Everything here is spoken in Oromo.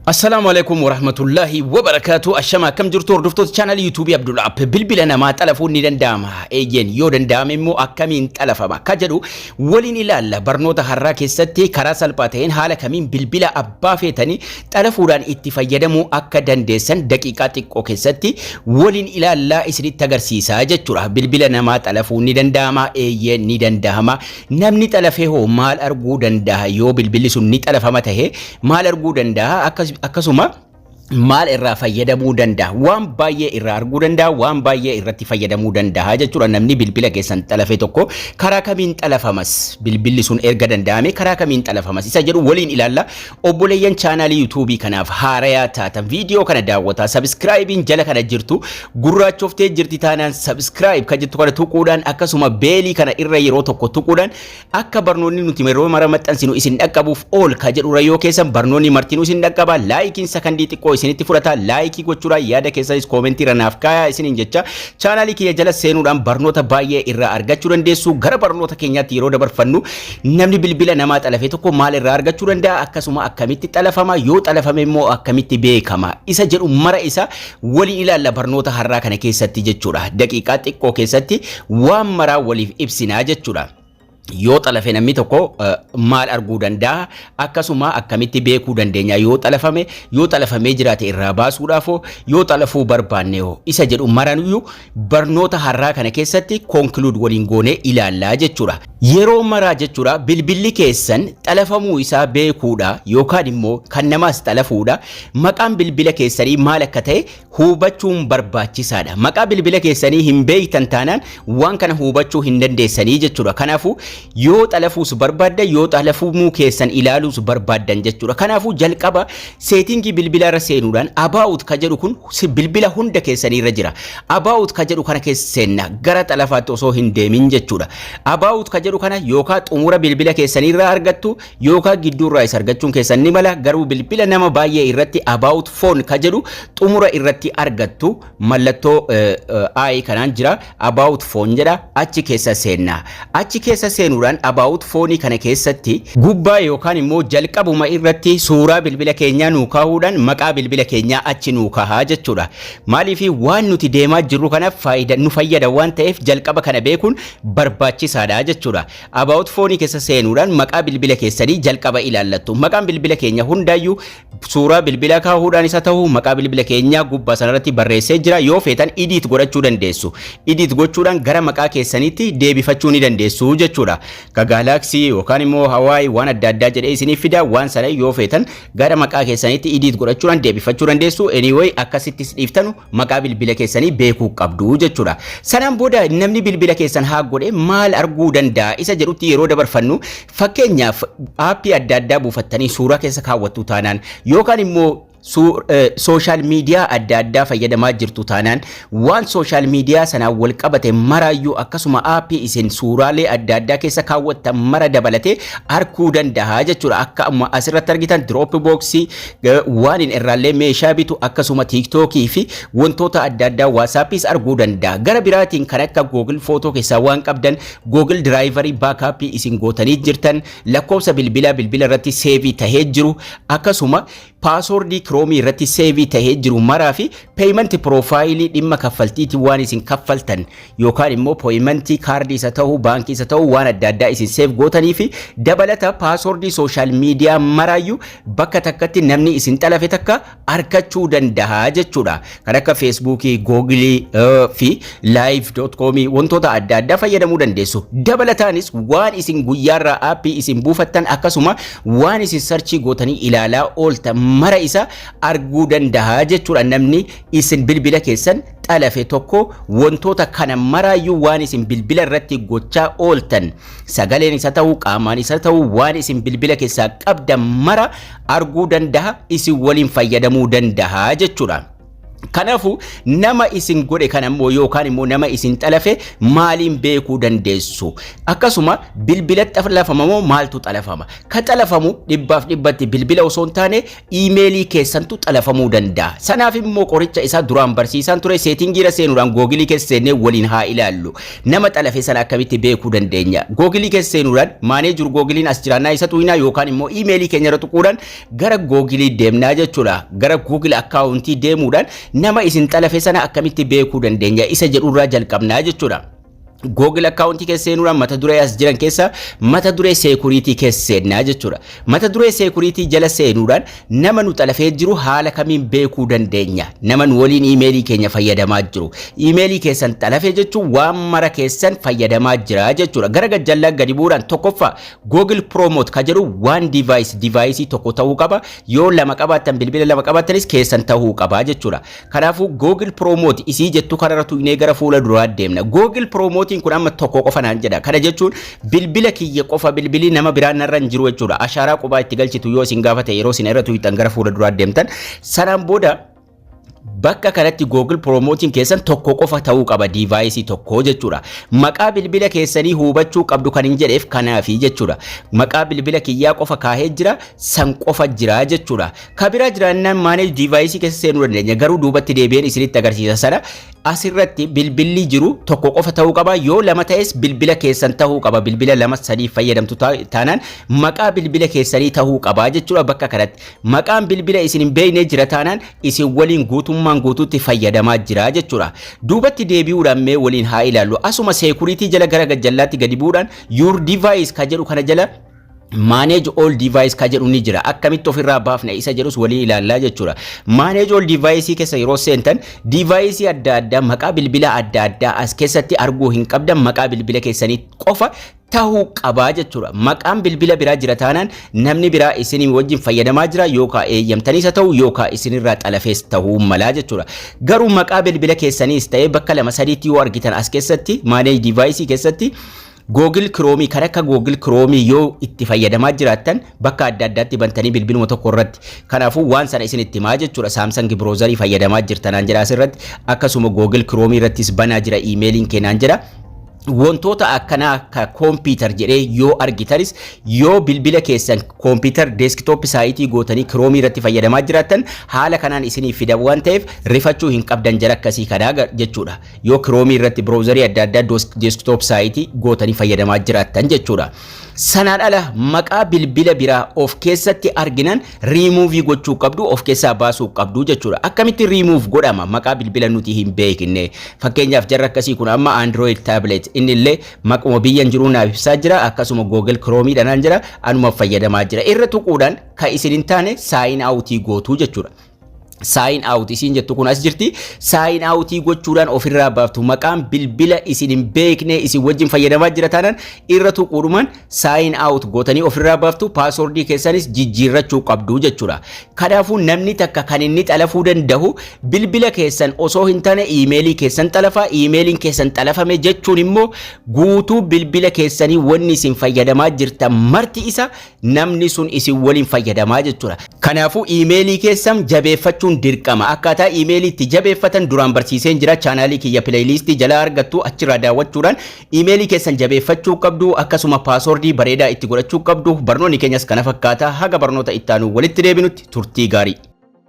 Assalaamu alaikum warahmatullahi wabarakatuh Ashama akkam jirtu hordoftoota chaanalii yuutuubii Abdul App bilbila namaa xalafuun ni danda'ama eeyyeen yoo danda'ame immoo akkamiin xalafama akka jedhu waliin ilaalla barnoota har'aa keessatti karaa salphaa ta'een haala kamiin bilbila abbaa feetanii xalafuudhaan itti fayyadamuu akka dandeessan daqiiqaa xiqqoo keessatti waliin ilaallaa isinitti agarsiisaa jechuudha bilbila namaa xalafuun ni danda'ama eeyyeen ni danda'ama Namni xalafe hoo maal arguu dandaha yoo bilbilli sun ni xalafama tahe maal arguu dandaha akkas akkasuma maal irraa fayyadamuu dandaha waan baay'ee irraa arguu dandaha waan baay'ee irratti fayyadamuu dandaha jechuudha namni bilbila keessan xalafe tokko karaa kamiin xalafamas bilbilli sun erga danda'ame karaa kamiin xalafamas isa jedhu waliin ilaalla Obboleeyyan chaanaalii yuutuubii kanaaf haarayaa taatan viidiyoo kana daawwataa sabiskiraayibiin jala kana jirtu gurraachoftee jirti taanaan sabiskiraayib kan jettu kana tuquudhaan akkasuma beelii kana irra yeroo tokko tuquudhaan akka barnoonni nuti yeroo mara maxxansinu isin dhaqqabuuf ool ka jedhurra yoo keessan barnoonni martinuu isin dhaqqabaa laayikiin sakandii xiqqoo isinitti fudhata laayikii gochuudhaan yaada keessanis koomentii irra naaf kaayaa isiniin jecha chaanaalii kiyya jala seenuudhaan barnoota baay'ee irraa argachuu dandeessu gara barnoota keenyaatti yeroo dabarfannu Namni bilbila namaa xalafe tokko maal irraa argachuu danda'a? Akkasuma akkamitti xalafama? Yoo xalafame immoo akkamitti beekama? Isa jedhu mara isa waliin ilaalla barnoota har'aa kana keessatti jechuudha. Daqiiqaa xiqqoo keessatti waan maraa waliif ibsinaa jechuudha. Yoo xalafe namni tokko maal arguu danda'a? Akkasuma akkamitti beekuu dandeenya? Yoo xalafame, yoo xalafamee jiraate irraa baasuudhaaf hoo, yoo xalafuu barbaanne hoo? Isa jedhu maranuyyuu barnoota har'aa kana keessatti conclude waliin goonee ilaallaa jechuudha. Yeroo maraa jechuudha bilbilli keessan xalafamuu isaa beekuudha yookaan immoo kan namaas xalafuudha. Maqaan bilbila keessanii maal akka ta'e hubachuun barbaachisaadha. Maqaa bilbila keessanii hin beektan taanaan waan kana hubachuu hin dandeessanii jechuudha. Kanaafuu yoo xalafuus barbaaddan yoo xalafamuu keessan ilaaluus barbaaddan jechuudha. Kanaafuu jalqaba Seetingii bilbila irra seenuudhaan about ka jedhu kun si- bilbila hunda keessanii irra jira. About ka jedhu kana keessa seenna gara xalafaatti osoo hin deemin jechuudha. About ka jedhu kana yookaa xumura bilbila keessanii irraa argattu yookaa gidduu irraa isa argachuun keessan ni mala garuu bilbila nama baay'ee irratti about phone ka jedhu xumura irratti argattu mallattoo i kanaan jira about phone jedha achi keessa seenna achi keessa seenuudhaan about phone kana keessatti gubbaa yookaan immoo jalqabuma irratti suuraa bilbila keenyaa nuu kaahuudhaan maqaa bilbila keenyaa achi nuu kaahaa jechuudha maaliif waan nuti deemaa jirru kana faayida nu fayyada waan ta'eef jalqaba kana beekuun barbaachisaadha jechuudha about phone keessa seenuudhaan maqaa bilbila keessanii jalqaba ilaallattu maqaan bilbila keenya hundaayyuu suuraa bilbila kaahuudhaan isa ta'u maqaa bilbila keenyaa gubbaa sanarratti barreessee jira yoo feetan idiit godhachuu dandeessu idiit gochuudhaan gara maqaa keessaniitti deebifachuu ni dandeessu jechuudha ka gaalaaksii yookaan immoo hawaii waan adda addaa jedhee isiniif fida waan sana yoo feetan gara maqaa keessaniitti idiit godhachuudhaan deebifachuu dandeessu anyway akkasittis dhiiftanu maqaa bilbila keessanii beekuu qabdu jechuudha. Sanaan booda namni bilbila keessan haak godhe maal arguu danda'a isa jedhutti yeroo dabarfannu fakkeenyaaf aappii adda addaa buufattanii suuraa keessa kaawwattu taanaan yookaan immoo sooshaal miidiyaa adda addaa fayyadamaa jirtu taanaan waan sooshaal miidiyaa sanaan wal qabate maraayyuu akkasuma aappii isin suuraalee adda addaa keessa kaawwattan mara dabalatee arguu danda'a jechuudha. Akka amma asirratti argitan dirooppi booksii Waanin irraallee meeshaa bitu akkasuma TikTok fi wantoota adda addaa WhatsAppis arguu danda'a. Gara biraatiin kan akka Google Photo keessaa waan qabdan Google Drivery backup isin gootanii jirtan lakkoofsa bilbilaa bilbila irratti seevii tahee jiru akkasuma paasoordii kiroomii irratti seevii tahee jiru maraa fi peeyimenti piroofaayilii dhimma kaffaltiitiin waan isin kaffaltan yookaan immoo pooyimantii kaardii isa ta'u baankii isa ta'u waan adda addaa isin seef gootanii fi dabalata paasoordii sooshaal miidiyaa maraayyuu bakka takkatti namni isin xalafe takka arkachuu danda'a jechuudha. Kan akka feesbuukii, googilii fi laayiv doot koomii wantoota adda addaa fayyadamuu dandeessu. Dabalataanis waan isin guyyaarraa aappii isin buufattan akkasuma waan isin sarchii gootanii ilaalaa ooltan mara isa arguu danda'a jechuudha namni isin bilbila keessan xalafe tokko wantoota kana maraayyuu waan isin bilbila irratti gochaa ooltan sagaleen isa ta'uu qaamaan isa ta'uu waan isin bilbila keessaa qabdan mara arguu danda'a isin waliin fayyadamuu danda'a jechuudha. Kanaafuu nama isin godhe kana immoo yookaan immoo nama isin xalafe maaliin beekuu dandeessu? Akkasuma bilbila xalafama moo maaltu xalafama? Ka xalafamu dhibbaaf dhibbatti bilbila osoo hin taane iimeelii keessantu xalafamuu danda'a. Sanaaf immoo qoricha isaa duraan barsiisaan ture seetingiira seenuudhaan googilii keessa seennee waliin haa ilaallu. Nama xalafe sana akkamitti beekuu dandeenya? Googilii keessa seenuudhaan maanee jiru googiliin as jiraannaa isa tuqinaa yookaan immoo iimeelii keenya irra tuquudhaan gara googilii deemnaa jechuudha. Gara googil akkaawuntii deemuudhaan nama isin xalafe sana akkamitti beekuu dandeenya isa jedhurraa jalqabnaa jechuudha. Google akkaawuntii keessa seenuudhaan mata duree as jiran keessa mata duree seekuriitii keessa seennaa jechuudha. Mata duree seekuriitii jala seenuudhaan nama nu xalafee jiru haala kamiin beekuu dandeenya? Nama nu waliin iimeelii keenya fayyadamaa jiru. Iimeelii keessan xalafee jechuun waan mara keessan fayyadamaa jira jechuudha. Gara gajjallaan gadi bu'uudhaan tokkoffaa Google Promote ka jedhu waan device device tokko ta'uu qaba. Yoo lama qabaattan bilbila lama qabaattanis keessan ta'uu qaba jechuudha. Kanaafuu Google Promote isii jettu kanarra tuqnee gara fuula duraa deemna. Google Promote'n kun amma tokko qofa naan jedha. Kana jechuun bilbila kiyya qofa bilbilii nama biraa narra hin jiru jechuudha. Ashaaraa qubaa itti galchitu yoo isin gaafate yeroo isin irra tuqxan gara fuula duraa deemtan. Sanaan booda bakka kanatti Google Promote'n keessan tokko qofa ta'uu qaba diivaayisii tokko jechuudha. Maqaa bilbila keessanii hubachuu qabdu kan hin jedheef kanaafi jechuudha. Maqaa bilbila kiyyaa qofa kaahee jira san qofa jira jechuudha. Ka biraa jiraannaan manage device keessa seenuu dandeenya garuu duubatti deebi'een isinitti agarsiisa sana asirratti bilbilli jiru tokko qofa ta'uu qaba yoo lama ta'es bilbila keessan ta'uu qaba bilbila lama sadii fayyadamtu ta- taanaan maqaa bilbila keessanii ta'uu qaba jechuudha bakka kanatti maqaan bilbila isin hin beekne jira taanaan isin waliin guutummaan guutuutti fayyadamaa jira jechuudha duubatti deebi'uudhaan mee waliin haa ilaallu asuma seekuriitii jala gara gajjallaatti gadi bu'uudhaan your device ka jedhu kana jala manage all device ka jedhu ni jira akkamitti ofirraa baafna isa jedhus waliin ilaallaa jechuudha manage all device keessa yeroo seentan device adda addaa maqaa bilbila adda addaa as keessatti arguu hin qabdan maqaa bilbila keessanii qofa ta'uu qabaa jechuudha maqaan bilbila biraa jira taanaan namni biraa isinii wajjin fayyadamaa jira yookaa eeyyamtaniisa ta'u yookaa isinirraa xalafees ta'uu malaa jechuudha garuu maqaa bilbila keessaniis ta'ee bakka lama sadiitti yoo argitan as keessatti manage device keessatti Google Chrome kan akka Google Chrome yoo itti fayyadamaa jiraattan bakka adda addaatti bantanii bilbiluma tokko irratti kanaafuu waan sana isin itti himaa jechuudha Samsung browser fayyadamaa jirtanaan jedha asirratti akkasuma Google Chrome irrattis banaa jira iimeeliin keenaan jedha wantoota akkanaa akka kompiitar jedhee yoo argitanis yoo bilbila keessan kompiitar deeskitooppi saayitii gootanii kiroomii irratti fayyadamaa jiraattan haala kanaan isiniif fida waan ta'eef rifachuu hin qabdan jara akkasii kanaa jechuudha. Yoo Chrome irratti browserii adda addaa desktop saayitii gootanii fayyadamaa jiraattan jechuudha. Sanaan ala maqaa bilbila biraa of keessatti arginan remove gochuu qabdu of keessaa baasuu qabdu jechuudha. Akkamitti remove godhama maqaa bilbila nuti hin beekne. Fakkeenyaaf jarri akkasii kun amma Android tablet inni illee maquma biyyan jiruu naaf ibsaa jira akkasuma Google Chrome dhanaan jira anuma fayyadamaa jira. Irra tuquudhaan kan isin hin taane sign out gootu jechuudha. saayin out isiin jettu kun as jirti saayin outii gochuudhaan ofirraa baaftu maqaan bilbila isin hin beekne isin wajjin fayyadamaa jira taanaan irra tuquudhumaan saayin out gootanii ofirraa baaftu paaswordii keessanis jijjiirrachuu qabdu jechuudha kanaafuu namni takka kan inni xalafuu danda'u bilbila keessan osoo hin taane iimeelii keessan xalafaa iimeeliin keessan xalafame jechuun immoo guutuu bilbila keessanii wanni isin fayyadamaa jirtan marti isa namni sun isin waliin fayyadamaa jechuudha. Kanaafuu iimeelii keessan jabeeffachuun dirqama. Akkaataa iimeelii itti jabeeffatan duraan barsiiseen jira. Chaanaalii kiyya pileeyiliistii jalaa argattu achirraa daawwachuudhaan iimeelii keessan jabeeffachuu qabdu akkasuma paasoordii bareedaa itti godhachuu qabdu. Barnoonni keenyas kana fakkaata. Haga barnoota ittaanuu walitti deebinutti turtii gaarii.